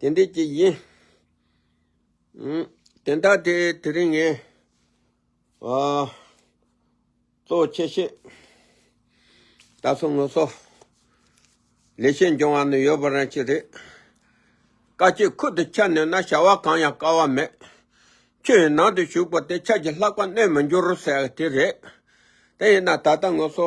དེ་འདི་ཅི་ཡིན། དེ་ལྟ་དེ་དེ་རིང་ངས་གཙོ་ཆེ་ཤེས་ད་སོ་ངོ་སོ་ལས་ཤེས་འབྱུང་བ་ནི་ཡོད་པ་རང་ཅི་རེད་བཀའ་སྤྱི་ཁུར་དུ་ཁྱེར་ནས་ན་བྱ་བ་གང་ཡང་དཀའ་བ་མེད་ཁྱོད་ཡི་ནང་དུ་བཞུགས་པ་དེ་ཆ་གི་ལྷག་པ་གནས་མི་འགྱུར་ཟེར་དེ་རེད་དེ་ཡིན་ན་ད་ལྟ་ངོ་སོ་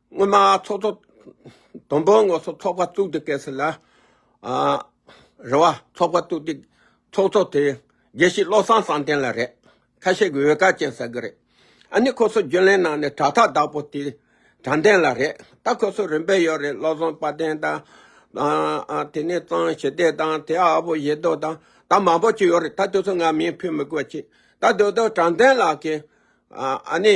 སྔོན་མ་ཚོགས་གཙོ་དང་པོའི་ངོས་སུ་ཚོགས་པ་བཙུགས་དུས་སྐད་སྲིད་ལ་རེ་བ་ཚོགས་པ་བཙུགས་དུས་ཚོགས་གཙོ་དེ་དགེ་བཤེས་བློ་བཟང་བསམ་གཏན་ལ་རེད། ཁ་ཤས་ཀྱིས་འོས་དཀར་ཅན་ཟེར་གི་རེད། ཨ་ནི་ཁོ་སོ་རྒྱུན་ལས་ནང་ནས་དྲ་ཐག་བདག་པོ་དེ་དྲ་མདེན་ལ་རེད། ད་ཁོ་སོ་རིམ་པས་ཡོད་རེད་བློ་བཟང་དཔའ་ལྡན་དང། དེ་ནས་གཙང་ཞི་བདེ་དང་དེ་ཨ་བོ་ཡེ་རྡོ་དང་ད་མང་པོ་ཅིག་ཡོད་རེད་ད་དེ་ཚོ་ང་མིང་ཕུད་མི་དགོས་ཅི། ད་དོ་དོ་དྲ་མདེན་ལགས་ཀྱིས་ཨ་ནི།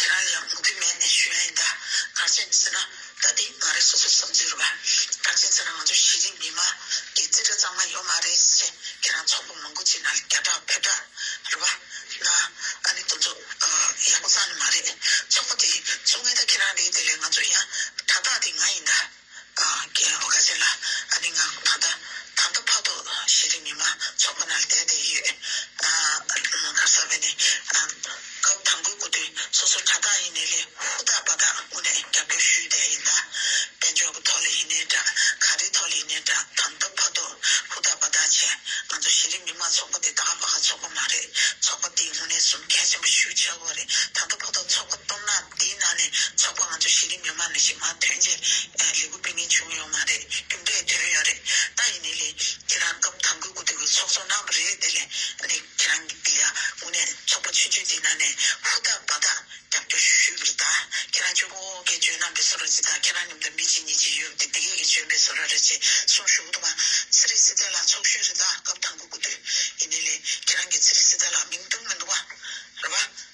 དེ་རང་ཡང་མུ་གེ་མེད་ནས་ཞུས་ན་ཡིན་ད་གར་བྱེད་མི་ཟེར་ན་ད་དེ་ང་རེ་སོ་སོའི་བསམ་ཚུལ་རེད་བ་གར་བྱེད་ཟེར་ན་ང་ཚོ་གཞི་རིམ་མི་མང་གི་རྩིས་ཁྲ་གཙང་མ་ཡོད་མ་རེད་ཟེར་ཁྱེད་རང་ཚོགས་པ་མང་པོ་གཅིག་ན་བརྒྱ་ཕྲག་བོད་ཕྲག་རེད་བ་ན་ཨ་ནི་དོན་ཚོགས་པ་ཡག་པོ་གཙང་ནི་མ་རེད་ཚོགས་པ་དེ་ཚོགས་ངེས་ད་ཁྱེད་རང་རེད་དེ་ལས་ང་ཚོ་ཡང་ཕྲག་དག་དེ་ང་ཡིན་ད། དང་རྒན་ལོ་ཁ་ཆེ་ལ་ཨ་ནེ་ངང་ད་ལྟ་ད་ལྟ་ཕ་ཐོག་གཞི་རིམ་མི་མང་ཚོགས་ཁོ་ན་ལ་བསྡད་དེ་ཡོད། ངག་གསར་བས་ནི་སྐབས་དང་པོའི་སྐུ་དུས་སོ་སོར་དྲ་བདག་ཡིན་ནའི་ལས་ཧུར་ཐག་པ་དག་ངོ་ནས་རྒྱབ་སྐྱོར་ཞུས་བསྡད་ཡིན་ད། དཔལ་འབྱོར་གྱི་ཐོག་ལ་ཡིན་ནའི་དྲ་ག་རེའི་ཐོག་ལ་ཡིན་ནའི་དྲ་དང་ད་ཕ་ཐོག་ཧུར་ཐག་པ་དག་བྱས་ང་ཚོ་གཞི་རིམ་མི་མང་ཚོགས་པ་དེ་དག་པ་ག་ཚོགས་པ་མ་རེད་ཚོགས་པ་དེའི་ངོ་ནས་གསུམ་གལ་ཆེན་པོ་ཞུ་བྱ་དགོས་པ་རེད་ད་ད་ཕ་ཐོག་ཚོགས་པ་སྟོབས་ན། དེའི་ནང་ནས་ཚོགས་པ་ང་ཚོ་གཞི་རིམ་མི་མང་ནས་ཞིག་མ་ཐོན་རྗེས་ལས་འགུལ་སྤེལ་མཁན་བྱུང་ཡོད་མ་རེད་རྒྱུ་འབྲས་དོན་ཡོད་རེད་ད་ཡིན་ནའི་ལས་ཁྱེད་རང་སྐབས་དང་དགོས་དགུ་དེ་གོས་ཚོགས་ཚོགས་གནང་བ་རེད་དེ་ལས་ནས་ཁྱེད་རང་གི་འདི་ཡ་ངོ་ནས་ཚོགས་པ་ཆུད་ཆུད་དེའི་ནང་ནས་ཧུར་ཐག་འབའ་ཐག་རྒྱབ་སྐྱོར་ཞུ་ཞུ་བར་ད་ཁྱེད་རང་ཆོས་གོ་ཨོ་ཁའི་ཇོན་ནང་པའི་སོ་ར་ཅིག་ད་ཁྱེད་རང་ཉུང་མཐར་མི་གཅིག་གཉིས་གཅིག་ཡོད་དེ་དེ་གས་ཀྱི་ཇོན་པའི་སོ་ར་རེད་ཅེས་གསུངས་ཞུ་གི་འདུག་བ་ཚེ་རིང་སྲིད་ཚལ་ལགས་ཚོགས་གཞོན་རེད་ད་སྐབས་དང་དགོས་དགུ་དེ་ཡིན་ནའི་ལས་ཁྱེད་རང་གི་ཚེ་རིང་སྲིད་ཚལ་ལགས་མིང་བཏུང་མི་འདུག་བ་རེད་བ།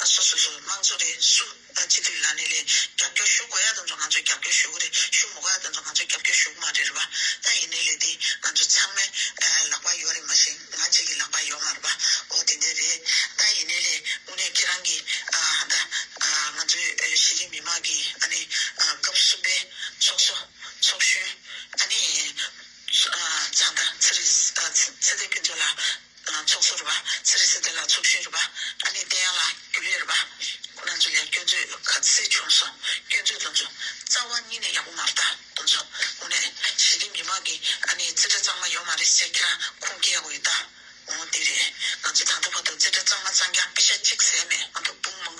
ང་སོ་སོ་སོའི་དམངས་གཙོ་རེད་སུ་ད་སྤྱི་འཐུས་ལ་ནས་ལས་རྒྱབ་སྐྱོར་ཞུ་དགོས་ཡ་དེ་ཚོ་ང་ཚོས་རྒྱབ་སྐྱོར་ཞུ་གི་རེད་ཞུ་མི་དགོས་ཡ་དེ་ཚོ་ང་ཚོས་རྒྱབ་སྐྱོར་ཞུ་གི་མ་རེད་རེད་པ་ད་ཡིན་ནའི་ལས་དེ་ང་ཚོ་ཚང་མའི་ལག་པ་ཡོད་རེད་མ་གཞི་ང་གཅིག་གི་ལག་པ་ཡོད་མ་རེད་པ་འོ་དེ་འདྲས་རེད་ད་ཡིན་ནའི་ལས་དངོས་གནས་ཁྱེད་རང་གི་ད་ང་ཚོའི་གཞི་རིམ་མི་དམངས་ཀྱི་ཨ་ནི་སྐབས་གསུམ་པའི་ཚོགས་གསོ་ཚོགས་གཞོན་ཨ་ནི་ཚང་ད་ཚེ་རིང་ཚེ་བརྟན་ཕུན་ཚོགས་ལགས། ལ་ཚོགས་སུ་རུ་བ་སི་རི་སི་ཏི་ལ་ཚོགས་ཤིང་རུ་བ་ཨ་ནི་ཏེ་ཡང་ལ་རྒྱུ་ལས་རུ་བ་ཁོ་ན་ཚོ་ལས་སྐྱོན་མཛོད་ཁ་ཚི་བྱུང་སོང་སྐྱོན་མཛོད་དོན་ཚོ་རྩ་བ་གཉིས་ནས་ཡག་པོ་མ་རྟ་དོན་ཚོ་ངོ་ནས་ཞི་བདེ་མི་མང་གི་ཨ་ནི་རྩི་སྒྲ་གཙང་མ་ཡོད་མ་རེད་ཟེར་ཁྱེད་རང་ཁུངས་སྐྱེལ་ཡག་པོ་ཡོད་ད་འོང་དེ་རེད་ང་ཚོ་ད་ལྟ་བར་དུ་རྩི་སྒྲ་གཙང་མ་གཙང་རྐྱང་སྤི་ཤ་གཅིག་ཟས་མེད་ང་ཚོ་དཔུང་མང་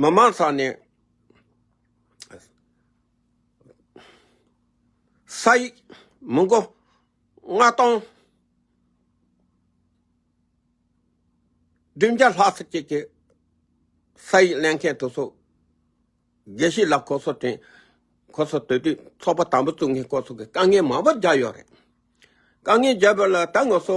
མི་དམངས་ཚང་ནས་ས་ཡིག་མི་འགོ་ལྔ་སྟོང་བདུན་བརྒྱ་ལྷག་ཟིག་ཅིག་གིས་ས་ཡིག་ལེན་མཁན་དུ་སོ་དགེ་བཤེས་ལ་ཁོ་ཚོ་དྲན་ཁོ་ཚོ་དེ་དུས་ཚོགས་པ་དམ་པོ་བཙུགས་ནས་ཁོ་ཚོ་གི་དཀའ་ངལ་མང་པོ་རྒྱག་ཡོད་རེད་དཀའ་ངལ་རྒྱག་པ་ལ་ད་ངོ་སོ་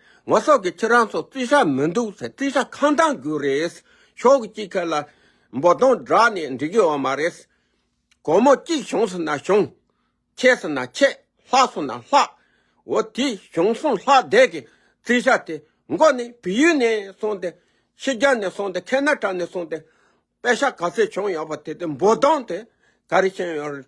ངོ་སོགས་ཀྱི་ཁྱེད་རང་ཚོ་རྩིས་ཆ་མི་འདུག་ཚེ་རྩིས་ཆ་གང་དྲང་རྒྱུ་རེད། ཕྱོགས་གཅིག་ཁ་ལ་འབོ་སྡོང་བསྒྲགས་ནས་འགྲིག་ཡོད་བ་མ་རེད། གོར་མོ་གཅིག་བྱུང་ཟེར་ན་བྱུང། ཆད་ཟེར་ན་ཆད། ལྷག་སོང་ན་ལྷག། འོ་དེ་བྱུང་སོང་ལྷག་བསྡད་ཀྱི་རྩིས་ཆ་དེ་མགོ་ནས་བལ་ཡུལ་ནས་སོང་སྟེ། ཕྱི་རྒྱལ་ནས་སོང་སྟེ་ཁེ་ན་ཏྲ་ནས་སོང་སྟེ། པད་ཤ་ག་ཚོད་བྱུང་ཡོད་པ་དེ་དེ་འབོ་སྡོང་དེ་ག་རེ་བྱས་ཡོད་རེད།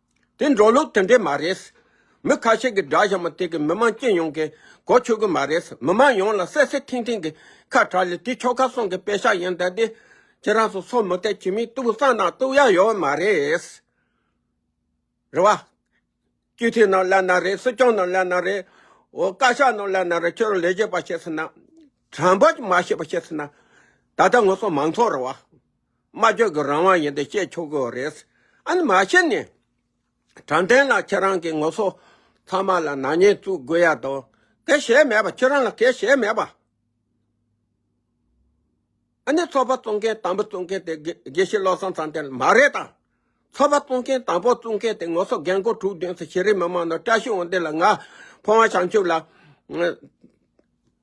དེ་འགྲོ་ལུགས་དེ་འདྲས་མ་རེད། མི་ཁ་ཤས་ཀྱི་སྒྲ་གཞན་པ་དེ་གིས་མི་མང་སྤྱི་ཡོངས་ཀྱིས་གོ་ཆོད་གི་མ་རེད། མི་མང་ཡོངས་ལ་སད་སད་ཐིང་ཐིང་གི་ཁ་གྲག་ལས་དེ་ཁྱོ་ག་སོང་གི་དཔེ་ཤག་ཡིན་ད་དེ། ཁྱེད་རང་ཚོ་སོ་མི་བལྟས་ཁྱིམ་མིའི་ཏུག་གསང་ནང་ཏུག་ཡ་ཡོད་མ་རེད། རེད་བ། སྤྱི་འཐུས་རྣམས་ལས་ན་རེད་སྲིད་སྐྱོང་རྣམས་ལས་ན་རེད། འོ་བཀའ་ཤག་རྣམས་ལས་ན་རེད་ཁྱོད་རང་ལས་བྱེད་པ་བྱས་ཟིན་ན། དྲང་པོ་མ་བྱས་པ་བྱས་ཟིན་ན། ད་ལྟ་ངོ་སོ་མང་ཚོགས་རེད་བ། སྨྲ་བརྗོད་ཀྱི་རང་དབང་ཡིན་ཏེ་བཤད་ཆོག་གི་རེད། ཨ་ནི་མ་བཤད་ནས། དྲང་བདེན་ལ་ཁྱེད་རང་གིས་ངོ་སོ་ཚང་མ་ལ་ནག་ཉེས་བཙུགས་དགོས་ཡ་དོ། གལ་བྱས་མེད་པ་ཁྱེད་རང་ལ་གལ་བྱས་མེད་པ། ཨ་ནི་ཚོགས་པ་བཙུགས་མཁན་དང་པོ་བཙུགས་མཁན་དེ་དགེ་བཤེས་བློ་བཟང་ཚང་བསྟན་མ་རེད་དམ། ཚོགས་པ་བཙུགས་མཁན་དང་པོ་བཙུགས་མཁན་དེ་ངོ་སོ་རྒན་རྒོན་དྲུག་བདུན་སུ་ཤེས་རིགས་མི་མང་ནང་བཀྲ་ཤིས་དབང་ལྡན་ལ་ང་ཕོ་བ་བྱང་ཆུབ་ལ།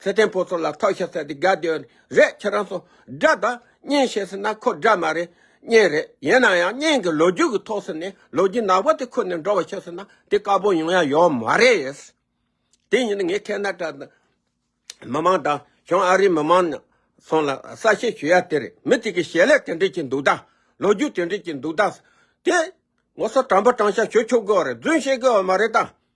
ཚེ་བརྟན་ཕོ་ཚོ་ལ་ཐོག་ཤ་ཟེར་ཏེ་དགའ་བསྡོད་ནི་རེད་ཁྱེད་རང་ཚོ་དགྲ་དང་གཉེན་བྱེད་ཟེར་ན་ཁོ་དགྲ་མ་རེད་གཉེན་རེད་ཡིན་ན་ཡང་གཉེན་གྱི་ལོ་རྒྱུས་ཀྱི་ཐོག་ཟེར་ནས་ལོ་རྒྱུས་ནག་པོ་དེ་ཁུར་ནས་འགྲོ་བ་བྱེད་ཟེར་ན་དེ་དཀར་པོ་ཡོང་ཡ་ཡོད་མ་རེད། དེ་ཡིན་ན་ངས་ཁེ་ནཱ་ཏྲ་མི་མང་དང་བྱང་ཨ་རིའི་མི་མང་ཚང་ལ་གསལ་བཤད་ཞུ་ཡ་དེ་རེད་མི་དེ་གི་ཞལ་ལས་དེ་འདྲས་ཀྱི་འདུག་ད་ལོ་རྒྱུས་དེ་འདྲས་ཀྱི་འདུག་ད་དེ་ངོ་སོ་དྲང་པོ་དྲང་ཤ་ཞུ་ཆོག་གི་བ་རེད་རྫུན་བཤད་གི་བ་མ་རེད་ད།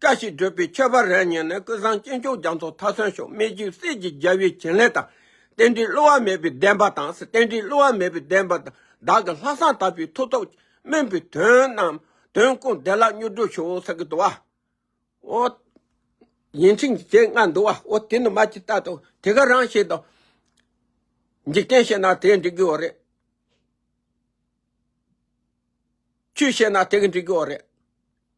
བཀྲ་ཤིས་བགྲོད་པའི་ཁྱད་པར་རལ་བསྙེན་ནི་ཀུན་བཟང་སྐྱེས་མཆོག་རྒྱ་མཚོ་མཐའ་སོན་ཤོག་སྨད་རྒྱུད་གསེར་གྱི་རྒྱལ་པོའི་བྱིན་ལེན་དང། རྟེན་འབྲེལ་བསླུ་བ་མེད་པའི་བདེན་པ་དང་རྟེན་འབྲེལ་བསླུ་བ་མེད་པའི་བདེན་པ་དང་བདག་གི་ལྷག་བསམ་དག་པའི་ཐུགས་སྟོབས་སྨིན་པའི་དོན་རྣམས་དོན་ཀུན་བདེ་བླག་མྱུར་བགྲོད་ཤོག་ས་གི་དུ་བ། འོ། ཡིན་ཕྱིན་ཅི་བྱེད་ང་འདུལ་བ་འོ་དེ་ནི་མ་ཅི་ལྟ་དོ་དེ་ག་རང་བྱེད་དོ། འཇིག་རྟེན་བྱེད་ན་དེས་འགྲིག་གི་འོ་རེད། ཆོས་བྱེད་ན་དེ་གི་འགྲིག་གི་འོ་རེད།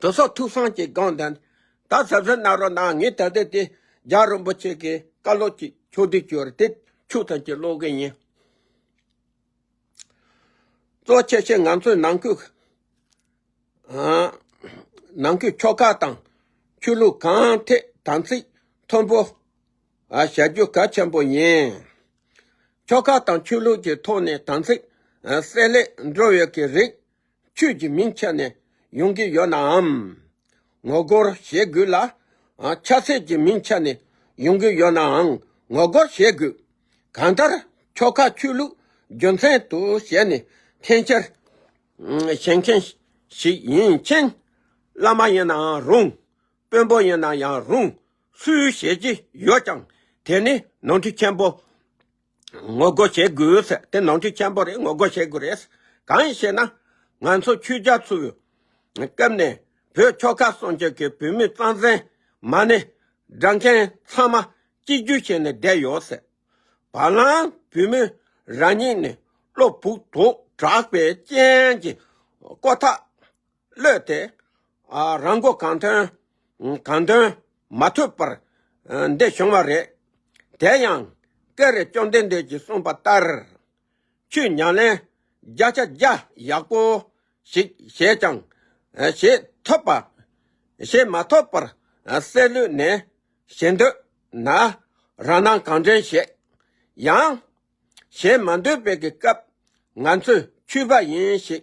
དྲོ་སོགས་ཐུགས་གསང་གི་དགོངས་ལྡན། ད་ཟབ་ཟབ་རྣ་རོ་ནང་ངེས་ད་དེ་དེ། ལྗགས་རིན་པོ་ཆེ་གི་བཀའ་སློབ་ཀྱི་ཆོག་བསྡུས་བསྐྱུར་ཏེ་ཆུ་ཐམས་ཅད་ཀློག་གིན་ཡིན། གཙོ་ཆེ་ཆེ་ང་ཚོའི་ནང་ཁུལ། ནང་ཁུལ་ཆོ་ག་དང་ཆོས་ལུགས་གང་ཐད་དམ་ཚིག་མཐོན་པོ་བྱ་རྒྱུ་གལ་ཆེན་པོ་ཡིན། ཆོ་ག་དང་ཆོས་ལུགས་ཀྱི་ཐོག་ནས་དམ་ཚིག་གསལ་ལེར་འགྲོ་བའི་གི་རིགས་ཁྱོད་ཀྱི་མིང་ཆད་ནས་ཡོང་གི་ཡོད་ནའམ། ངོ་རྒོལ་བྱེད་དགོས་ལ། ཆགས་སྲེད་ཀྱི་མིང་ཆད་ནས་ཡོང་གི་ཡོད་ནའང་ངོ་རྒོལ་བྱེད་དགོས། གང་ལྟར་ཁྱོ་ག་ཆོས་ལུགས་རྒྱུ་མཚན་དུ་བྱས་ནས་འཐེན་འཁྱེར་བྱེད་མཁན་ཞིག་ཡིན་མཁྱེན། བླ་མ་ཡིན་ནའང་རུང། དཔོན་པོ་ཡིན་ན་ཡང་རུང། སུས་བྱེད་ཀྱི་ཡོད་ཀྱང་དེ་ནི་ནོར་འཁྲུལ་ཆེན་པོ། ངོ་རྒོལ་བྱེད་དགོས། དེ་ནང་ཆོས་ཆེན་པོ་རེད་ངོ་རྒོལ་བྱེད་དགོས་རེད། གང་ཞེ་ན། ང་ཚོ་ཆོས་རྒྱ་མཚོའི་སྐབས་ནས་བོད་ཆོལ་ཁ་གསུམ་བཅས་ཀྱི་བོད་མི་གཙང་གཙང་མ་ནས་སྦྲ་མཁན་ཚང་མ་གཅིག་གྱུར་བྱས་ནས་བསྡད་ཡོད། བ་ལང་བོད་མི་རང་ཉིད་ནས་བློ་ཕུགས་དུག་དྲག་པའི་རྐྱེན་གྱིས་ཀོ་ཐག་གློད་དེ། རང་མགོ་གང་ཐོན་གང་འདོན་མ་ཐུབ་པར་འདི་བྱུང་བ་རེད། དེ་ཡང་ཀེ་རེ་བཅོམ་ལྡན་འདས་ཀྱིས་གསུངས་པ་ལྟར། ཆུ་མྱང་ལན་བརྒྱ་ཆ་བརྒྱ་ཡག་པོ་ཞིག་བྱས་ཀྱང་བྱེད་ཐུབ་པ། བྱེད་མ་ཐུབ་པར་སེར་ལུས་ནས་བྱེད་འདོད་ན་རང་སྣང་གང་དྲན་བྱེད། ཡང། བྱེད་མ་འདོད་པའི་སྐབས་ང་ཚོས་འཁྱུད་པ་ཡིན་ཞེས་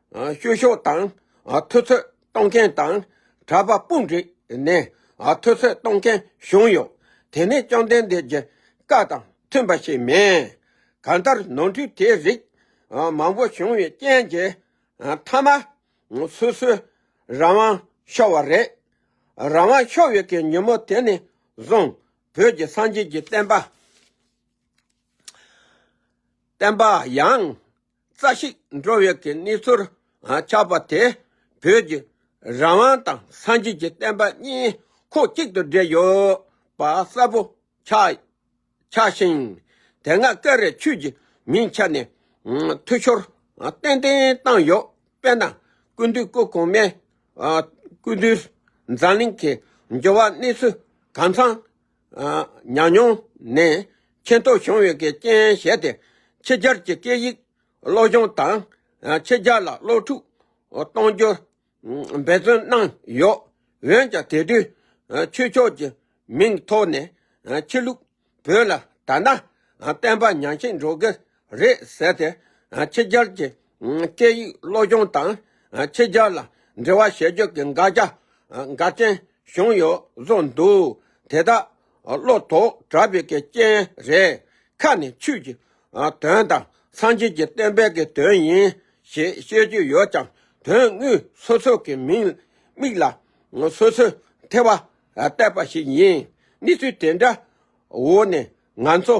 བཤུ་གཞོག་དང་ཐུབ་ཚོད་གཏོང་མཁན་དང་གྲྭ་པ་དཔུང་བསྒྲིགས་ནས་ཐུབ་ཚོད་གཏོང་མཁན་བྱུང་ཡོད། དེ་ནི་བཅོམ་ལྡན་འདས་ཀྱི་བཀའ་དང་མཐུན་པ་ཞིག་མིན། གང་ལྟར་ནོར་འཁྲུལ་དེ་རིགས་མང་པོ་བྱུང་བའི་རྐྱེན་གྱིས་མཐའ་མ་སོ་སོའི་རང་དབང་ཤོར་བ་རེད། རང་དབང་ཤོར་བའི་གི་ཉིན་མོ་དེ་ནས་བཟུང་བོད་ཀྱི་སངས་རྒྱས་ཀྱི་བསྟན་པ། བསྟན་པ་ཡང་རྩ་ཞིག་འགྲོ་བའི་གི་གནས་ཚུལ་ཆགས་པ་དེ་བོད་ཀྱི་རང་དབང་དང་སངས་རྒྱས་ཀྱི་བསྟན་པ་གཉིས་ཁོག་གཅིག་ཏུ་སྦྲེལ་ཡོད་པ་གསལ་པོ་ཆགས་ཆགས་ཤིང། དེ་སྔ་སྐད་རེ་ཆོས་ཀྱི་མིང་ཆགས་ནས་འཐུས་ཤོར་ཏན་ཏན་བཏང་ཡོད་པས་ན་ཀུན་འདུས་སྐུ་གོང་མའི་ཀུན་འདུས་འཛམ་གླིང་གི་འགྱུར་བ་གནས་ཚུལ་གང་ཚང་ཉག་ཉོག་ནས་མཁྱེན་རྟོགས་བྱུང་ཡོད་ཀྱི་རྐྱེན་བྱས་ཏེ་ཕྱི་རྒྱལ་གྱི་སྐད་ཡིག་སློབ་སྦྱོང་དང་ཕྱི་རྒྱལ་ལ་སློབ་ཕྲུག་གཏོང་རྒྱུར་འབད་བརྩོན་གནང་ཡོད། འོན་ཀྱང་དེ་དུས་ཆོས་ཕྱོགས་ཀྱི་མིང་ཐོག་ནས་ཕྱི་ལུགས་བོད་ལ་ད་ནངས་བསྟན་པ་ཉམས་ཤིང་འགྲོ་གི་རེད་ཟེར་ཏེ་ཕྱི་རྒྱལ་གྱི་སྐད་ཡིག་སློབ་སྦྱོང་དང་ཕྱི་རྒྱལ་ལ་འབྲེལ་བ་བྱེད་རྒྱུ་གི་འགག་རྒྱ་འགའ་ཅན་བྱུང་ཡོད་བཟོ་འདུག་དེ་དག་བློ་ཐོག་དྲག་པའི་གི་རྐྱེན་རེད། ཁ་ནས་ཆོས་ཀྱི་དོན་དང་སངས་རྒྱས་ཀྱི་བསྟན་པའི་གི་དོན་ཡིན་ཞེས་བཤད་རྒྱུ་ཡོད་ཀྱང་དོན་དངོས་སོ་སོ་གི་མིང་མིག་ལ་སོ་སོས་ཐལ་བ་བཏབ་པ་ཞིག་ཡིན། གནས་ཚུལ་དེ་འདྲ་འོག་ནས་ང་ཚོ།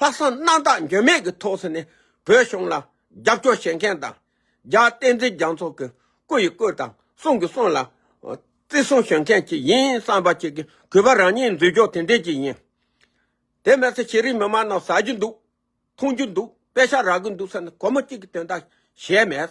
ལྷག་བསམ་རྣམ་དག་འགྱོད་མེད་ཀྱི་ཐོག་ས་ནས་བོད་གཞུང་ལ་རྒྱབ་སྐྱོར་བྱེད་མཁན་དང། རྒྱ་བསྟན་འཛིན་རྒྱ་མཚོ་གི་སྐུ་ཡི་སྐུ་དང་གསུང་གི་གསུང་ལ་བརྩི་སྲུང་ཞུ་མཁན་ཞིག་ཡིན་བསམ་པ་ཞིག་གིས་གུས་པ་རང་ཉིད་འཛུལ་འཇོག་དེ་འདྲས་ཀྱི་ཡིན། དེ་སྨྲས་ཚེ་ཤེས་རིག་མི་མང་རྣམས་ཟ་རྒྱུ་འདུག་འཐུང་རྒྱུ་འདུག་དཔེ་ཆ་རག་གི་འདུག་ས་ནི་གོ་མ་གཅིག་གི་དོན་དག་གཞལ་མེད།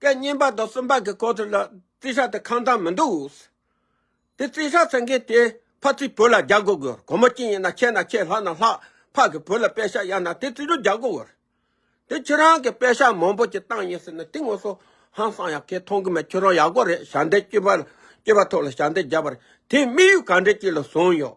སྐད་སྙན་པ་དང་སུམ་པ་གི་སྐོར་དེ་ལ་རྩིས་ཆ་དེ་ཁང་དང་མི་འདུག། དེ་རྩིས་ཆ་ཟེར་མཁན་དེ་ཕ་ཚིས་བུ་ལ་རྒྱག་དགོས་དགོས་སྒོར་མོ་གཅིག་ཡིན་ན་ཁྱེར་ན་ཁྱེར་ལྷག་ན་ལྷག་ཕ་གི་བུ་ལ་དཔེ་ཤག་གཡར་ན་དེ་རྩིས་རུ་རྒྱག་དགོས་དགོས་རེད། དེ་ཁྱེད་རང་གི་དཔེ་ཤག་མང་པོ་ཅིག་བཏང་ཡིན་ཟེར་ན་དེ་ངོ་སོ་ཧང་སང་ཡག་ཁེ་མཐོང་གི་མེད་ཁྱེད་རང་ཡག་པོ་རེད་ཞག་འདེད་སྐྱིད་པ་སྐྱིད་པ་ཐོག་ལ་ཞག་འདེད་རྒྱབ་པར་དེ་དམིགས་ཡུལ་ག་འདྲེ་ཅིག་ལ་བཟུང་ཡོད།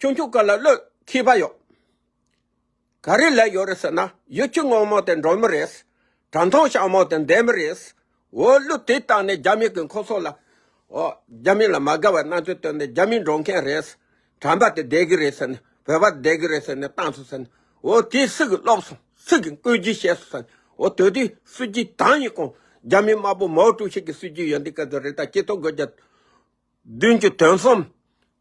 ཁྱོད་ཁྱོད་ཀ་ལ་བློས་ཁེ་བ་ཡོད། ག་རེ་ལས་ཡོད་རེད་ཟེར་ན་ཡུལ་གྱི་དངོས་མང་དེ་འགྲོ་མི་རེད། དྲ་མཐོང་ཞང་མང་དེ་འདེད་མི་རེད། འོ་བློས་དེ་བཏང་ནས་རྒྱ་མི་གི་འཁོར་སོགས་ལ། འོ་རྒྱ་མི་ལ་མ་དགའ་བའི་སྣང་ཚུལ་བཏོན་ནས་རྒྱ་མི་འགྲོ་མཁན་རེད། དྲ་འབག་དེ་འདེད་གི་རེད་ཟེར་ནས་བོད་པ་འདེད་གི་རེད་ཟེར་ནས་བཏང་སོང་ཟེར་ནས། འོ་དེ་སུ་གི་སློབ་སོང་སུ་གི་བཀོད་རྒྱུ་བྱས་སོང་ཟེར་ནས། འོ་དོལ་རྒྱུགས་གསོད་རྒྱུ་གང་ཡིན་གང། རྒྱ་མི་དམར་པོ་མའོ་ཀྲུའུ་ཞི་གི་གསོད་རྒྱུ་ཡོད་འདི་སྐད་དུ་རེད་ད་སྤྱི་ཚོགས་སྒོས་རྒྱ་བདུན་གྱི་དོན་གསུམ།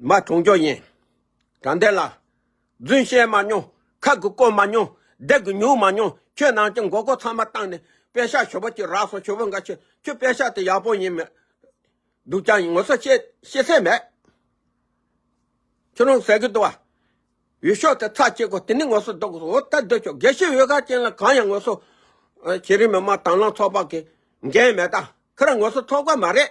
མ་གྲོངས་ཀྱོ་ཡིན། དྲང་བདེན་ལ། རྫུན་བཤད་མ་མྱོང། ཁག་གི་བཀོད་མ་མྱོང། བདག་གི་ཉུག་མ་མྱོང། ཁྱོད་ནང་གི་མགོ་སྐོར་ཚང་མ་བཏང་ནས་པད་ཤག་ཞོ་པོ་གཅིག་རག་སོང་ཞོ་པོ་འགའ་ཁྱོད་ཁྱོད་པད་ཤག་དེ་ཡག་པོ་ཡིན་མི་འདུག་ཀྱང་ངོ་སོ་ཤེས་ཤེས་སེ་མེད། ཁྱོད་རང་ཟེར་གི་འདུག་བ། འོས་ཤོག་དེ་ཚགས་བཅད་གོ་དེ་ནས་ངོ་སོ་བསྡུ་གོ་འོ་ད་བསྡུ་ཆོག་དགེ་བཤེས་འོས་ཁ་ཅན་ལ་གང་ཡང་ངོ་སོ་བྱེད་རིན་མེད་མ་དང་བླངས་ཚོགས་པ་གི་འགན་མེད་ད་ཁར་ངོ་སོ་ཚོགས་པ་མ་རེད།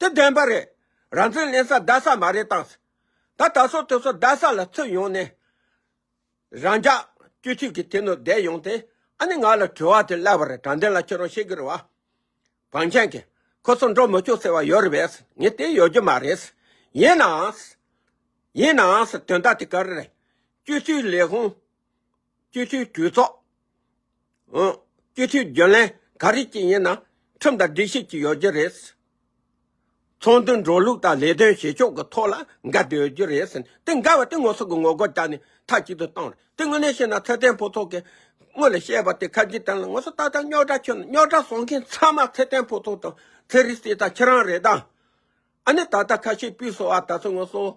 དེ་བདེན་པ་རེད། རང་བཙན་ལེན་ས་བདའ་ས་མ་རེད་དྭངས། ད་ད་སོ་དེ་སོ་བདའ་ས་ལ་ཚུད་ཡོང་ནས། རང་ཅག་སྤྱོད་ཚུལ་གྱི་དེ་ནོར་བསྡད་ཡོང་སྟེ་ཨ་ནི་ང་ལ་དྲི་བ་དེ་སླད་པར་དྲང་བདེན་ལ་ཁྱེད་རང་ཤེས་ཀྱི་རེད་བ། བང་ཆེན་གྱི། ཁོ་ཚོ་འགྲོ་མི་ཆོག་ཟེར་བ་ཡོད་རེད་བས། ངས་དེ་ཡོད་རྒྱུ་མ་རེད། ཡིན་ནའང། ཡིན་ནའང་དོན་དག་དེ་ག་རེ་རེད། སྤྱོད་ཚུལ་ལས་ཧོན། སྤྱི་འཐུས་གྲོས་ཚོགས། སྤྱི་འཐུས་རྒྱུན་ལས་ག་རེ་ཅིག་ཡིན་ན་ཁྲིམས་དང་སྒྲིག་གཞི་གཅིག་ཡོད་རྒྱུ་རེད། ཚོགས་འདུའི་འགྲོ་ལུགས་དང་ལས་དོན་བྱེད་ཕྱོགས་ཀྱི་ཐོག་ལ་འགལ་ཟླ་ཡོད་རྒྱུ་རེད། དེ་འགལ་བ་དེ་ངོ་སོ་གི་ངོ་རྒོལ་བྱས་ནས་མཐའ་གཅིག་ཏུ་བཏང་རེད། དེ་དངོས་གནས་བཤད་ན་ཚེ་བརྟན་ཕུན་ཚོགས་ཀྱིས་སྔོན་ལ་བཤད་པ་དེ་ཁ་འབྱིན་དོན་ལ་ངོ་སོ་ཏག་ཏག་རྙོག་དྲ་ཁྱོད་རྙོག་དྲ་བཟོ་མཁན་ཚང་མ་ཚེ་བརྟན་ཕུན་ཚོགས་དང་ཚེ་རིང་བསྟན་དང་ཁྱེད་རང་རེད་ད། ཨ་ནི་ད་ལྟ་ཁ་ཤས་པུས་སོ་བ་ད་ཚོད་ངོ་སོ།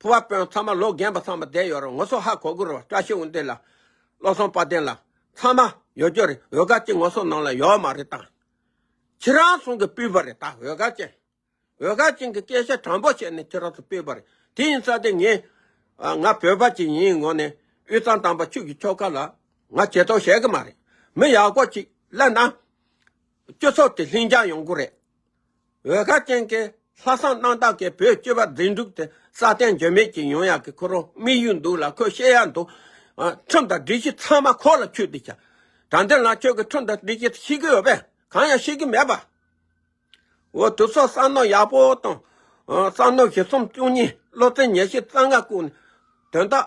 ཕུར་བ་དཔོན་ཚང་མ་ལོ་རྒན་པ་ཚང་མ་བསྡད་ཡོད་རུང་ངོ་སོ་ཧ་གོ་དགོས་རུང་བཀྲ་ཤིས་དབུ་འདེད་ལ། བློ་བཟང་དཔའ་ལྡན་ལ། ཚང་མ་ཡོད་རྒྱུ་རེད་འོད་དཀར་ཅན་ངོ་སོ་ནང་ལ་ཡོད་མ་རེད་དཱ། ཁྱེད་རང་ཚང་གིས་བསྤུས་པ་རེད་དཱ་འོད་དཀར་ཅན། འོད་དཀར་ཅན་གྱི་སྐད་ཆ་དྲང་པོ་བཤད་ནས་ཁྱེད་རང་ཚོ་བསྤུས་པ་རེད་དེ་ཡིན་ཙང་དེ་ངས། ང་བོད་པ་ཅིག་ཡིན་ངོ་ནས་དབུས་གཙང་དམ་པ་ཁྱོད་ཀྱི་ཁྱོ་ག་ལ། ང་ཇེ་ཐོག་བཤད་གི་མ་རེད་མི་ཡག་པོ་ཅིག་གླ་ན། སྤྱི་ཚོགས་དེ་ལྷིང་འཇགས་ཡོང་གི་རེད་འོད་དཀར་ཅན་གྱི་ལྷ་བསང་སྣང་བདག་གིས་བོད་སྤྱི་བ་འཛིན་དྲུག་སྟེ་ས་སྟེང་འགྱུར་མེད་ཀྱི་ཡོན་ཡག་གི་ཁོ་རང་དམིགས་ཡུལ་འདུག་ལ་ཁོས་བཤད་ཡ་འདུག། ཁྲིམས་དང་སྒྲིག་གཞི་ཚང་མ་ཁོག་ལ་ཆུད་དེ་བྱ། དྲང་བདེན་ལ་ཁྱོད་ཀྱིས་ཁྲིམས་དང་སྒྲིག་གཞི་ཤེས་ཀྱི་ཡོད་པས་གང་ཡང་ཤེས་ཀྱི་མེད་པ། འོ་དུ་སོགས་བསང་སྣང་ཡག་པོ་དང། བསང་སྣང་བཞི་གསུམ་བཅུ་གཉིས་བློ་རྩེ་ཉེར་བཞི་རྩ་ལྔ་བཀུག་ནས་དོན་དག།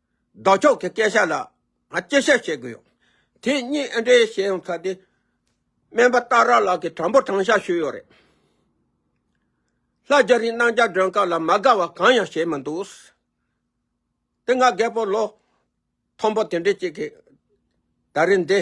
བདག་ཅག་གི་སྐད་ཆ་ལ་ང་ཅི་བཤད་ཤེས་གི་ཡོད། དེ་སྙིང་ཨེ་འདྲེ་ཞེས་ཡང་ཚ་དེ། སྨན་པ་སྟག་ར་ལགས་ཀྱིས་དྲང་པོ་དྲང་བཞག་ཞུས་ཡོད་རེད། ལྷ་རྒྱ་རིའི་གནང་བྱ་སྒྲོན་སྐབས་ལ་མ་དགའ་བ་གང་ཡང་བྱས་མི་འདུག། དེ་སྔ་རྒད་པོ་ལོ་མཐོན་པོ་དེ་འདྲས་ཅིག་གིས་ད་རེས་འདི་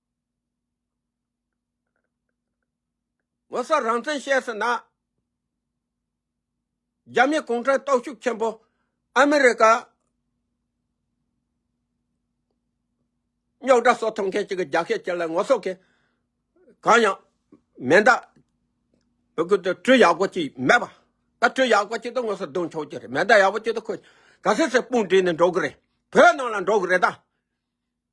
ངོ་སོ་རང་བཙན་བཤད་ཟིན་ན། རྒྱ་མི་གུང་ཁྲན་ཏོག་ཤུགས་ཆེན་པོ་ཨ་མི་རི་ཀ་རྙོག་དྲ་གསོ་ཐུབ་མཁན་གཅིག་གི་རྒྱ་སྐད་ཅིག་ལ་ངོ་སོ་གང་ཡང་མེད་མདའ། བོད་ཁུལ་དུ་སྤྲུལ་ཡག་པོ་ཅིག་མེད་པ། ད་སྤྲུལ་ཡག་པོ་ཅིག་ཏུ་ངོ་སོ་བསྡུ་མཆོག་ཀྱི་རེད་མེད་མདའ་ཡག་པོ་ཅིག་ཏུ་ཁོས་ག་ཚོད་ཚོད་དཔུང་བསྒྲིགས་ནས་འགྲོ་གི་རེད་བོད་ནང་ལ་འགྲོ་གི་རེད་ད།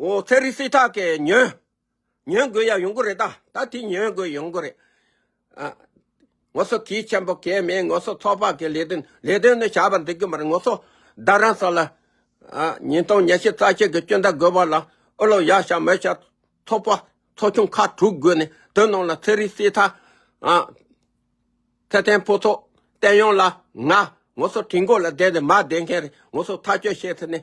ཨོ་ཚེ་རིང་སྲིད་ཁྲག་གི་ཉོན། ཉོན་དགོས་ཡ་ཡོང་གི་རེད་ད། ད་དེ་ཉོན་དགོས་ཡོང་གི་རེད། ངོ་སོ་གིས་ཆེན་པོ་གས་མེད་ངོ་སོ་ཚོགས་པ་གི་ལས་དོན་ལས་དོན་ནི་བྱ་བ་འདི་གི་མ་རེད་ངོ་སོ་བདག་རང་ས་ལ། ཉིན་སྟོང་ཉལ་ཤི་རྩ་ཆད་གི་སྐྱོན་ད་དགོས་པ་ལ་ཨོ་ལོ་ཡ་ཤ་མོ་ཤ་ཚོགས་པ་ཚོགས་ཆུང་ཁ་དྲུག་དགོས་ནས་དོན་ནང་ལ་ཚེ་རིང་སྲིད་ཁྲག། ཚེ་བརྟན་ཕུན་ཚོགས་བསྟན་ཡོངས་ལ་ང་ངོ་སོ་གྲི་མགོ་ལ་བསྡད་ནས་མ་བསྡད་མཁན་རེད་ངོ་སོ་ཐག་གཅོད་བྱེད་ཐུབ་ནས།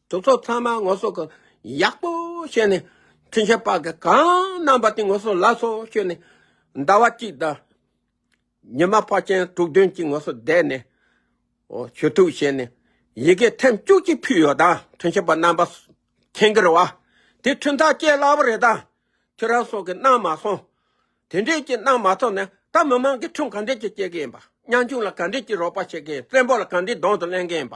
གྲོགས་ཚོགས་ཚང་མ་ངོ་སོ་གང་ཡག་པོ་བྱས་ནས་ཁྲིན་ཆེན་པ་གི་གང་རྣམ་པ་དེ་ངོ་སོ་ལགས་སོ་ཞུས་ནས་ཟླ་བ་གཅིག་དང་ཉི་མ་ཕ་ཆེན་དྲུག་བདུན་གྱི་ངོ་སོ་བསྡད་ནས་ཞུ་ཐུག་བྱས་ནས་ཡི་གེ་ཐེམ་བཅུ་གཅིག་ཕུལ་ཡོད་དང་ཁྲིན་ཆེན་པ་རྣམ་པ་ཁེང་གི་རེད་བ་དེ་ཁྲིན་ཐང་སྐྱེས་སླ་བོ་རེད་དང་ཁྱེད་རང་སོགས་ཀྱི་གནང་མ་སོང་དེ་འདྲས་ཀྱི་གནང་མ་ཐོབ་ནས་ད་མི་མང་གི་ཁྲིམས་གང་འདྲས་ཀྱི་སྐྱེལ་གི་ཡིན་པ་གཉང་ཆུང་ལ་གང་འདྲས་ཀྱི་རོགས་པ་བྱེད་ཀྱི་ཡིན་བཙན་པོ་ལ་གང་འདྲས་གདོང་དུ་གླེང་གི་ཡིན་པ།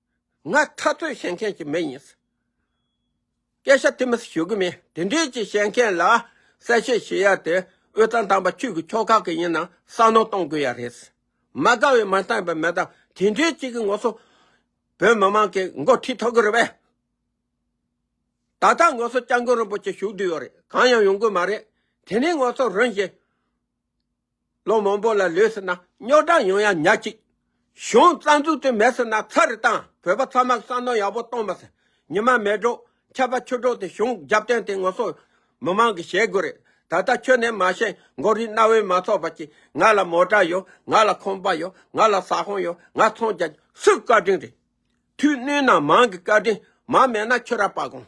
ང་ཐ་ཚོད་བཤད་མཁན་ཞིག་མེད་ཡིན། སྐད་ཆ་དེ་མི་སྲིད་ཞུ་གི་མེད་དེ་འདྲས་ཀྱི་བཤད་མཁན་ལ་གསལ་བཤད་བྱེད་ཡ་དེ་དབུས་གཙང་དམ་པ་ཁྱོད་ཀྱི་ཁྱོ་ག་གི་ཡིན་ན་བསམ་ནོར་གཏོང་དགོས་ཡ་རེད། མ་དགའ་བའི་མ་བསྟན་པའི་མེ་དང་དེ་འདྲས་ཅིག་གི་ངོ་སོ་བོད་མི་མང་གི་མགོ་ཁྲིད་ཐོག་གི་རེད་པས། ད་ལྟ་ངོ་སོ་སྐྱབས་མགོན་རིན་པོ་ཆེ་བཞུགས་སྡོད་ཡོད་རེད་གང་ཡང་ཡོང་གི་མ་རེད་དེ་ནས་ངོ་སོ་རིན་བཞིན། ལོ་མང་པོ་ལ་ལོས་ཟེར་ན་རྙོག་དྲ་ཡོང་ཡ་ཉག་ཅིག། གཞུང་རྩ་འཛུགས་དེ་མེད་ཟེར་ན་ཚར་རེ་བཏང་བོད་པ་ཚང་མར་བསམ་མནོ་ཡག་པོ་གཏོང་མ་ཟེར་ཉི་མ་མེད་འགྲོ་ཆད་པ་ཆུ་འགྲོ་དེ་གཞུང་རྒྱབ་བརྟེན་དེ་ངོ་སོ་མི་མང་གི་བྱེད་དགོས་རེད་ད་ལྟ་ཁྱོད་ནས་མ་བཤད་མགོ་རིལ་རྣ་བས་མ་ཚོར་བ་གྱིས་ང་ལ་མོ་དྲ་ཡོད་ང་ལ་ཁོམ་པ་ཡོད་ང་ལ་ཟ་ཧོན་ཡོད་ང་ཚོང་རྒྱ་སུས་བཀའ་དྲིན་རེད་དུས་བསྣུན་ན་མང་གི་བཀའ་དྲིན་མང་མེད་ན་ཁྱོད་ར་པ་དགོངས།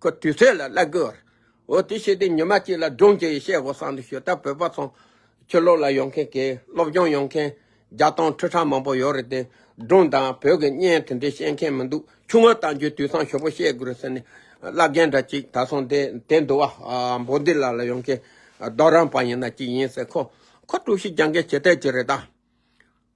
ཁོ་དུས་ཚོད་ལ་བླ་དགོས་བར། འོ་དེ་ཤེས་དུས་ཉི་མ་གཅིག་ལ་སྒྲུང་གཅིག་བཤད་དགོས་བསམ་དུས་ཞོལ་ལྟ་བོད་པ་ཚོ། ཆོས་སློབ་ལ་ཡོང་མཁན་དགེ་སློབ་སྦྱོང་ཡོང་མཁན། བརྒྱ་སྟོང་ཁྲི་ཕྲག་མང་པོ་ཡོད་རེད་དེ། སྒྲུང་དང་བོད་ཀྱི་བརྙན་དེ་འདྲའི་བཤད་མཁན་མི་འདུག་ཆུང་ངུ་བཏང་རྒྱུའི་དུས་སང་ཞོ་པོ་བཤད་དགོས་རེད་ཟེར་ནས། བླ་རྒན་འདྲ་གཅིག་ད་སོང་དེ་དེ་འདུག་བ། འབོ་འདི་ལ་ལ་ཡོང་མཁན། རྡོ་རང་པ་ཡིན་ན་གཅིག་ཡིན་ཟེར་ཁོ། ཁོ་དཀྲུག་ཤིང་རྒྱག་མཁན་བྱེད་ཐལ་གྱི་རེད་ད།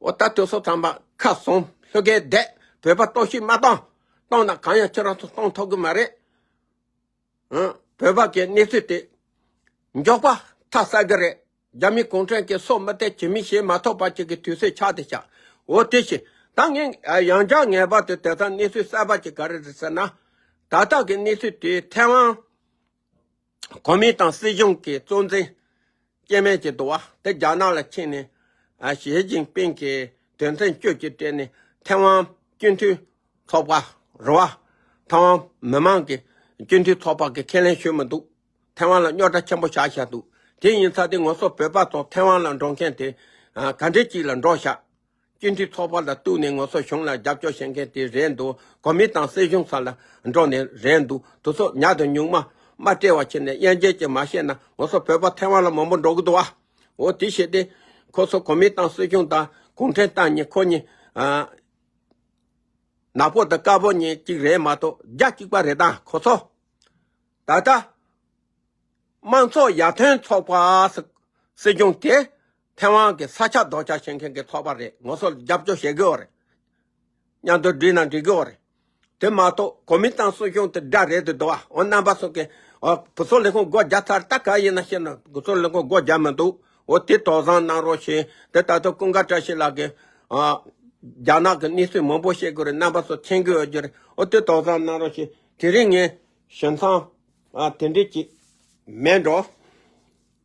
ཨོ་ད་དུས་སོ་ཚངས་པ་ཁ་སོང་ལྷོད་གེ་བསྡད་བོད་པ་གཏོང་ཤིག་མ་གཏོང། གཏོང་ན་གང་ཡང་ཁྱོད་རང་ཚོ་གཏོང་ཐོག་གི་མ་རེད། ཧུན་བོད་པ་གི་གནས་ཚུལ་དེ་མགྱོགས་པ་ཐག་གསལ་གི་རེད་རྒྱ་མི་གུང་ཁྲན་གི་སྲོག་མི་བརྟད་བྱེད་མི་ཤེས་མ་ཐོག་པ་ཅིག་གི་དུས་སེ་ཆག་དེ་ཆག་འོ་དེ་བཞིན་ད་ངས་ཡང་བསྐྱར་ངེས་པར་དུ་དེ་ཚང་གནས་ཚུལ་གསལ་པ་ཅིག་ག་རེ་རེད་ཟེར་ན། ད་ལྟ་གི་གནས་ཚུལ་དེ་ཐེ་ཝང། གོ་མིན་ཏང་སྲིད་གཞུང་གི་གཙོ་འཛིན་སྐྱེ་མེད་ཀྱི་དུ་བ་དེ་རྒྱ་ནག་ལ་ཁྱེར་ནས། ཞི་ཅིན་ཕིན་གྱི་དོན་ཚན་བཅུ་གཅིག་སྤྲད་ནས་ཐེ་ཝན་སྤྱི་འཐུས་ཚོགས་པ་རུ་བ། ཐེ་ཝན་མི་དམངས་ཀྱི་སྤྱི་འཐུས་ཚོགས་པ་གི་ཁས་ལེན་ཞུས་མི་འདུག་ཐེ་ཝན་ལ་རྙོག་དྲ་ཆེན་པོ་བཞག་བཞག་འདུག་དེ་ཡིན་ཚ་དེ་ངོ་སོ་བོད་པ་ཚོ་ཐེ་ཝན་ལ་འགྲོ་མཁན་དེ་ག་འདྲེ་ཅིག་ལ་འགྲོ་བཞག། སྤྱི་འཐུས་ཚོགས་པ་ལ་གཏུགས་ནས་ངོ་སོ་གཞུང་ལ་རྒྱབ་སྐྱོར་བྱེད་མཁན་དེ་རེད་འདུག་གོ་མིན་ཏང་སྲིད་གཞུང་ས་ལ་འགྲོ་ནི་རེད་འདུག་དུ་ཚོགས་ཉག་དང་ཉུང་མ་དམའ་བཀྲེས་བ་ཆེ་ནས་དབྱེན་འབྱེད་ཅིག་མ་བྱས་ན་ངོ་སོ་བོད་པ་ཐེ་བང་ལ་མང་པོ་འགྲོ་གི་འདུག་ཨ། འོ་དེ་བྱས་ཏེ། ཁོ་ཚོ་གོ་མིན་ཏང་སྲིད་གཞུང་དང་གུང་ཁྲན་ཏང་གཉིས་ཁོ་གཉིས། ནག་པོ་དང་དཀར་པོ་གཉིས་གཅིག་རེད་མ་གཏོགས་རྒྱ་གཅིག་པ་རེད་ད་ཁོ་ཚོ། ད་ལྟ། དམངས་ཚོགས་ཡར་ཐོན་ཚོགས་པ་སྲིད་གཞུང་དེ་ཐེ་ཝང་གི་ས་ཆ་རྡོག་རྩ་ཆེ་མཁན་གྱི་ཚོགས་པ་རེད་ངོ་སོ་རྒྱབ་སྐྱོར་བྱེད་དགོས་བ་རེད། མཉམ་དུ་འགྲིག་ན་འགྲིག་དགོས་བ་རེད། དེ་མ་གཏོགས་གོ་མིན་ཏང་སྲིད་གཞུང་དེ་དགྲ་རེད་དུ་འདུག་བ་འོ་རྣམ་པ་སོགས་ཀྱི་འོ་བུ་ཚོ་ལས་ཁུངས་སྒོ་རྒྱག་ཚར་ད་ག་ཡིན་ན་ཤེས་ན་བུ་ཚོ་ལས་ཁུངས་སྒོ་རྒྱག་མི་འདུག་འོ་དེ་དོགས་བཟང་གནང་རོགས་ཞེས་དེ་ད་དུ་ཀུན་དགའ་བཀྲ་ཤིས་ལགས་ཀྱིས། རྒྱ་ནག་གི་གནས་ཚུལ་མང་པོ་ཤེས་དགོས་རེད་རྣམ་པ་སོགས་མཁྱེན་དགོས་བ་རྒྱུ་རེད་འོ་དེ་དོགས་བཟང་གནང་རོགས་ཞེས་དེ་རིང་ངས་ཞེན་མཚང་དེ་འདྲས་ཀྱིས་མེད་འགྲོ།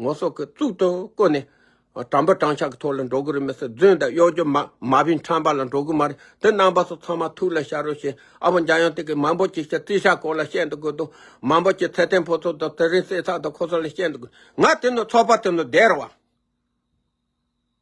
ངོ་སོགས་ཀྱི་གཙུག་ཏུ་བཀོད་ནས། དྲང་པོ་དྲང་ཕྱག་གི་ཐོག་ལ་འགྲོ་གི་རུ་མི་སོགས་རྫུན་དང་གཡོག་རྒྱུ་མ་བིན་ཁྲམ་པ་ལ་འགྲོ་གི་མ་རེད་དེ་རྣམ་པ་སོགས་ཚང་མ་ཐུགས་ལ་ཤར་རོ་ཞེས་ཨ་བོ་འཇམ་དབྱངས་སྟེང་གི་མང་པོ་ཅིག་ཤ་ཙི་ཤ་ཁོ་ལ་བཤད་འདུག་དགོས་འདུག་མང་པོ་ཅིག་ཚེ་བརྟན་ཕོ་ཚོགས་དང་ཚེ་རིང་བསེ་ཚགས་དང་ཁོ་ཚོ་ལ་བཤད་འདུག་དགོས་ང་དེ་ནི་ཚོགས་པ་དེ་ནི་སྡེར་བ།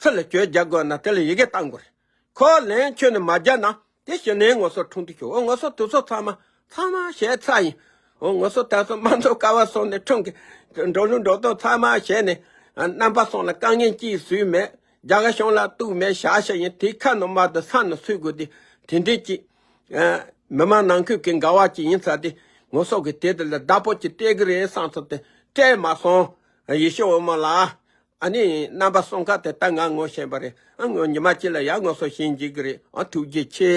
ཚུར་ལ་གྱོད་རྒྱག་དགོས་ན་དེ་ལ་ཡི་གེ་བཏང་དགོས་རེད། ཁོ་ལན་ཁྱོད་ནས་མ་རྒྱག་ན་དེ་གཞི་ནས་ངོ་སོ་འཁྲུངས་དུས་ཤོག་འོ་ངོ་སོ་དུས་སོ་ཚང་མ་ཚང་མ་བྱས་ཚར་ཡིན། འོ་ངོ་སོ་དར་སོ་མ་འདོར་དཀའ་བ་སོང་ནས་འཁྲུངས་གི། འགྲོ་ལུགས་འགྲོ་སྟངས་ཚང་མ་བྱས་ནས་རྣམ་པ་སོང་ལ་དཀའ་ངལ་ཅི་ཡིན་སུས་མེད། རྒྱ་གར་གཞུང་ལ་གཏུགས་མེད་བྱ་བྱ་ཡིན་དེའི་ཁ་ནང་མར་དུ་ས་ནང་ཚུད་དགོས་དེ་དེ་འདྲའི་ཅིག། མི་མང་ནང་ཁུལ་གྱི་འགལ་བ་ཅིག་ཡིན་ཚར་དེ་ངོ་སོ་གི་དེ་དེ་ལ་བདག་པོ་ཅིག་སྤྲད་གི་རེད་བསམ་ཚོར་དེ་སྤྲད་མ་སོང། ཡེ་ཤེས་འོད་མ་ལགས། ཨ་ནི་རྣམ་པ་གསུམ་ཀ་དེ་ལྟར་ང་ངོ་ཤེས་པ་རེད་ཨ་ངོ་ཉི་མ་གཅིག་ལ་ཡར་ངོ་སོ་ཤེས་འཇུག་གི་རེད་ཨ་ཐུགས་རྗེ་ཆེ།